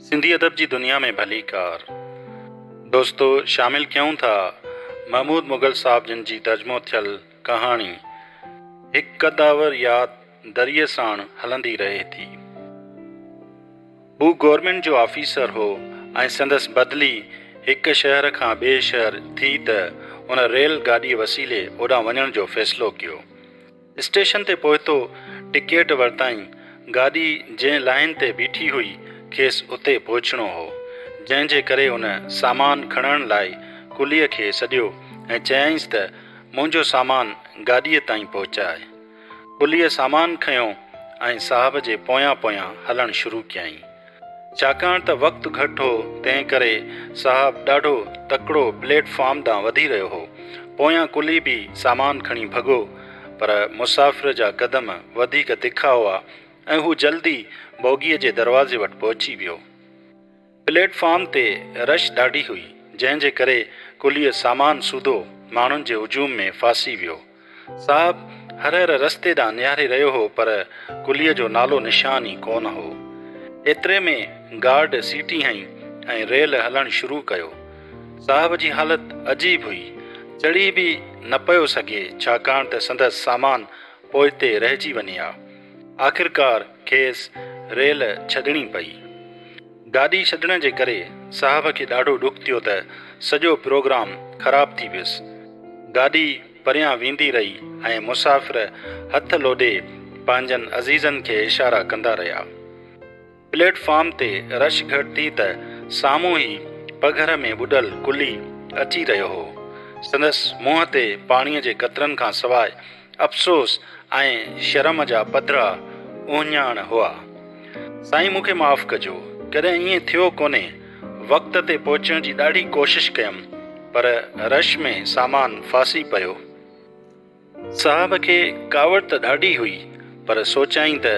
سنڌي ادب جي دنيا ۾ ڀليڪار دوستو شامل ڪيون ٿا محمود مغل صاحب جن جي ترجمو ٿيل ڪهاڻي هڪ قداور ياد دريء ساڻ هلندي رهي ٿي. هو گورنمينٽ جو آفيسر هو ۽ سندس بدلي هڪ شهر کان ٻئي شهر ٿي ته ان ريل گاڏيء وسيلي اوڏان وڃڻ جو فيصلو ڪيو. اسٽيشن تي پهتو، ٽڪيٽ ورتائين، گاڏي جنهن لائين تي بيٺي هئي، کيس اتي پهچڻو هو، جنهن جي ڪري هن سامان کڻڻ لاء ڪليء کي سڏيو ۽ چيائينس ته منهنجو سامان گاڏيء تائين پهچاء. ڪليء سامان کنيو ۽ صاحب جي پويان پويان هلڻ شروع ڪيائين. ڇاڪاڻ ته وقت گهٽ هو، تنهن ڪري صاحب ڏاڍو تڪڙو پليٽ فارم ڏانهن وڌي رهيو هو. پويان ڪلهي به سامان کڻي ڀڳو، پر مسافر جا قدم وڌيڪ تکا هئا ۽ هو جلدي بوگيء جي دروازي وٽ پهچي ويو. پليٽ فارم تي رش ڏاڍي هئي، جنهن جي ڪري ڪلهي سامان سوڌو ماڻهن جي هجوم ۾ ڦاسي ويو. صاحب هرهر رستي ڏانهن نهاري رهيو هو پر قليء جو نالو نشان ئي ڪونه هو. ايتري ۾ گارڊ سيٽي هنئي ۽ ريل هلڻ شروع ڪيو. صاحب جي حالت عجيب هئي. چڙهي به نه پيو سگهي ڇاڪاڻ ته سندس سامان پوئتي رهجي وڃي ها. آخرڪار کيس ريل ڇڏڻي پئي. گاڏي ڇڏڻ جي ڪري صاحب کي ڏاڍو ڏک ٿيو ته سڄو پروگرام خراب ٿي ويس. گاڏي پريان ويندي رهي ۽ مسافر هٿ لوڏي پنهنجن عزيزن کي اشارا ڪندا رهيا. پليٽ فارم تي رش گهٽ ٿي ته سامهون ئي پگهر ۾ ٻڏل ڪلي اچي رهيو هو. سندس منهن تي پاڻيء جي قطرن کان سواء افسوس ۽ شرم جا پڌرا اهڃاڻ هئا. سائين مون کي معاف ڪجو، ڪڏهن ائين ٿيو ڪونهي، وقت تي پهچڻ جي ڏاڍي ڪوشش ڪيم پر رش ۾ سامان ڦاسي پيو. صاحب کي ڪاوڙ ته ڏاڍي هئي پر سوچيائين ته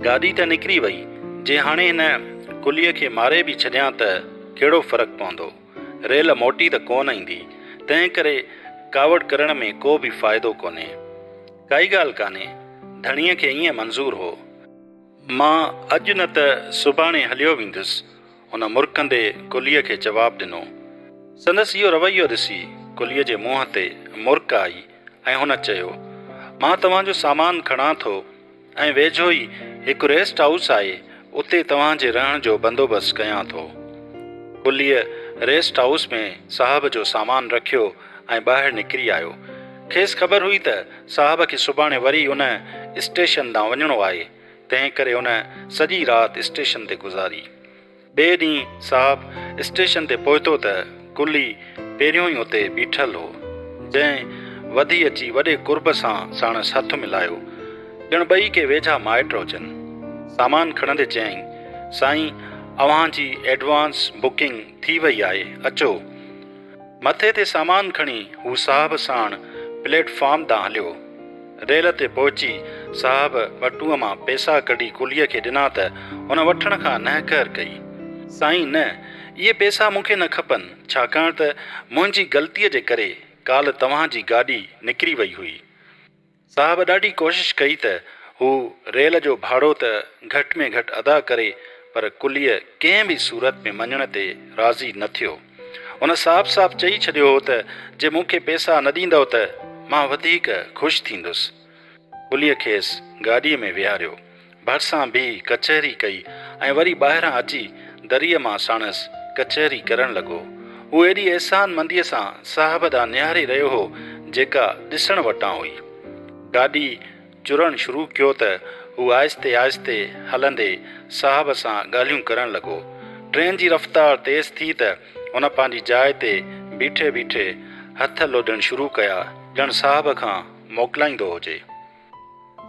گاڏي ته نڪري وئي، جي هاڻي هن ڪليء کي ماري به ڇڏيان ته ڪهڙو فرق پوندو. ريل موٽي ته ڪونه ايندي، تنهن ڪري ڪاوڙ ڪرڻ ۾ ڪو به فائدو ڪونهي. ڪائي ڳالهه ڪانهي، ڌڻيء کي ائين منظور هو. مان اڄ نه ته سڀاڻي هليو ويندس، هن مرڪندي ڪليء کي جواب ڏنو. سندس اهو رويو ڏسي ڪليء جي منهن تي مرڪ آئي ۽ هن چيو، مان توهان جو سامان کڻان ٿو. ۽ ويجهو ئي هڪ ريسٽ هائوس آهي، اتي توهان جي رهڻ جو بندوبست ڪيان ٿو. ٻليء ريسٽ هائوس ۾ صاحب جو سامان رکيو ۽ ٻاهر نڪري آيو. کيس خبر هئي ته صاحب کي سڀاڻي وري ان اسٽيشن ڏانهن وڃڻو آهي، تنهنڪري ان سڄي رات اسٽيشن تي گذاري. ٻئي ڏينهن صاحب اسٽيشن تي پهتو ته قلي پهريون ئي اتي بيٺل هو، جنهن وڌي اچي وڏي قرب سان ساڻس هٿ ملايو، ڄڻ ٻئي ڪي ويجها مائٽ هجن. سامان کڻندي چيائين، سائين، اوهان جي ايڊوانس بڪنگ ٿي وئي آهي، اچو. مٿي تي سامان کڻي هو صاحب ساڻ پليٽ فارم ڏانهن هليو. ريل تي پهچي صاحب ٻٽوء مان پيسا ڪڍي ڪليء کي ڏنا ته هن وٺڻ کان نهڪر ڪئي. سائين نه، اهي پيسا مون کي نه کپن، ڇاڪاڻ ته منهنجي غلطيء جي ڪري ڪالهه توهان جي گاڏي نڪري وئي هئي. صاحب ڏاڍي ڪوشش ڪئي ته هو ريل جو ڀاڙو ته گهٽ ۾ گهٽ ادا ڪري پر ڪليء ڪنهن به صورت ۾ مڃڻ تي راضي نه ٿيو. هن صاف صاف چئي ڇڏيو هو ته جي مون کي پيسا نه ڏيندؤ ته مان وڌيڪ خوش ٿيندس. ڪليء کيس گاڏيء ۾ ويهاريو. ڀرسان بيهي ڪچهري ڪئي ۽ وري ٻاهران اچي دريء مان ساڻس ڪچهري ڪرڻ لڳو. هو ايڏي احسان منديء سان صاحب ڏانهن نهاري رهيو هو، جيڪا ڏسڻ وٽان هئي. گاڏي چرڻ شروع ڪيو ته هو آهستي آهستي هلندي صاحب سان ڳالهيون ڪرڻ لڳو. ٽرين جي رفتار تيز ٿي ته هن پنهنجي جاء تي بيٺي بيٺي هٿ لوڏڻ شروع ڪيا، ڄڻ صاحب کان موڪلائيندو هجي.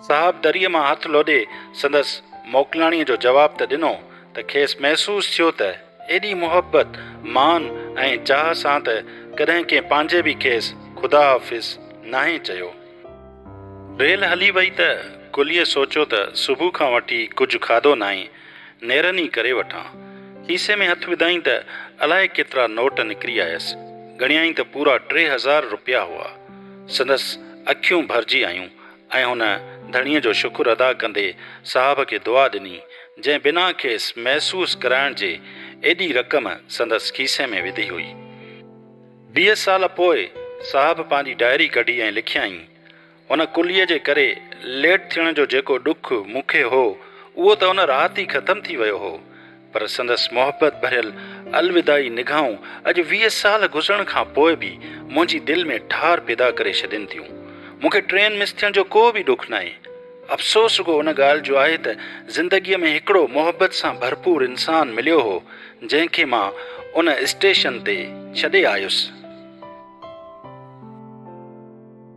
صاحب دريء مان هٿ لوڏي سندس موڪلاڻيء جو جواب ته ڏنو ته کيس محسوس ٿيو ته ايڏي محبت، مان ۽ چاهه سان ته ڪڏهن ڪنهن پنهنجي به کيس خدا حافظ ناهي چيو. ريل هلي وئي ته ڪليء سوچيو ته صبح کان وٺي ڪجهه کاڌو ناهي. نيرن ئي ڪري وٺان. کيسي ۾ هٿ وڌائين ته الائي ڪيترا نوٽ نڪري آيس. ڳڻيائين ته پورا ٽي هزار روپيا هئا. سندس اکيون ڀرجي آيون ۽ هن ڌڻيء جو شڪر ادا ڪندي صاحب کي دعا ڏني، جنهن بنا کيس محسوس ڪرائڻ جي ايڏي رقم سندس کيسي ۾ وڌي هئي. ويهه سال پوء صاحب پنهنجي ڊائري ڪڍي ۽ لکيائين. ان ڪليء جي ڪري ليٽ ٿيڻ جو جيڪو ڏک مون کي هو، اهو ته ان رات ئي ختم ٿي ويو هو، پر سندس محبت ڀريل الوداعي نگاهون اڄ ويهه سال گذرڻ کان پوء به منهنجي دل ۾ ٺار پيدا ڪري ڇڏين ٿيون. مون کي ٽرين مس ٿيڻ جو ڪو به ڏک ناهي. افسوس رڳو ان ڳالهه جو آهي ته زندگيء ۾ هڪڙو محبت سان ڀرپور انسان مليو هو، جنهن کي مان ان اسٽيشن تي ڇڏي آيس.